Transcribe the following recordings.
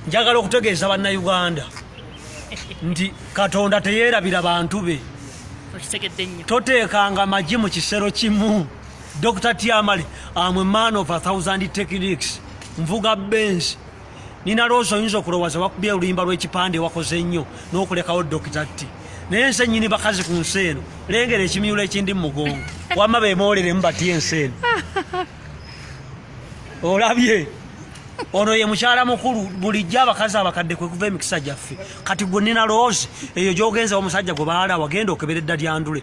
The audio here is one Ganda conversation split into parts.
njagala okutegeeza bannayuganda nti katonda teyeerabira bantu be toteekanga magi mu kisero kimu dr tiamale am a man of a thousand techniques nvuga benz nina loozi oyinza okulowooza wakubye oluyimba lw'ekipande wakoze nnyo n'okulekawo dr t naye nse nyini bakazi ku nsi eno lengera ekimyulo ekindi mu mugongo wama bemoolere mu batya ensi eno olabye ono ye mukyala mukulu bulijjo abakazi abakadde kwe kuva emikisa gyaffe kati gwe nina loozi eyo gyogenza omusajja gwe baala wagenda okebera edda lyandule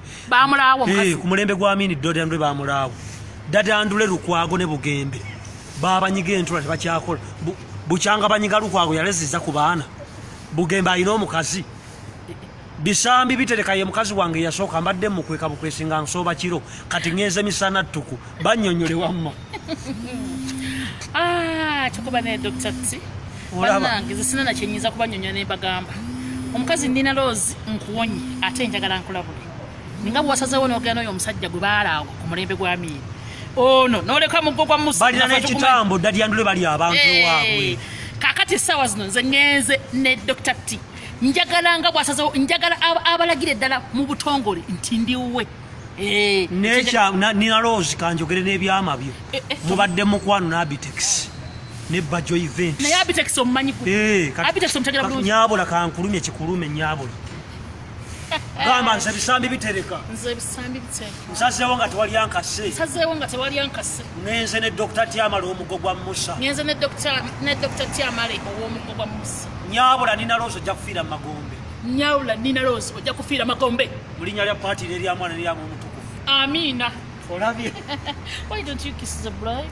eh, ku mulembe gwa mini dda lyandule bamulaawo dda lyandule lukwago ne bugembe babanyiga entula tebakyakola bukyanga banyiga lukwago yaleziza ku baana bugembe alina omukazi bisambi bitereka ye mukazi wange yasooka mbadde mukweka bukwesi nga nsooba kiro kati ŋenze misana ttuku banyonyole wamma ah, kyokuba naye dr t banange zisina nakyenyiza kubanyonyola nembagamba omukazi nina loozi nkuwonye ate njagala nkulabule ninga bwewasazewo nogenda noyo omusajja gwe baalaawo ku mulembe gwa miiri ono noleka muggo gwa musabalina nekitambo ddalyandule bali abantu waabwe kakati essaawa zino nze ŋenze ne dr t njagala nga bwasazewo njagala abalagira eddala mu butongole nti ndiwuwe eh, nina rose kanjogere n'ebyama byo eh, eh, mubadde mukwano n'abitex ne bajo event naye abitex omumanyi abitex omutegera bulungi nyabula kankulumye kikulume nyabula gamba nze ebisambi bitereka nze ebisambi bitereka nsazeewo nga tewali ankase nsazeewo nga tewali ankase ngenze ne dokita tyamale omugo gwa musa ngenze ne dokita tyamale ow'omugo gwa musa Nyabula Nina Rose ojja kufiira mu magombe. Nyabula Nina Rose ojja kufiira magombe. Mu linnya lya paati n'erya mwana n'erya Mwoyo Mutukuvu. Amiina. Olabye. Why don't you kiss the bride?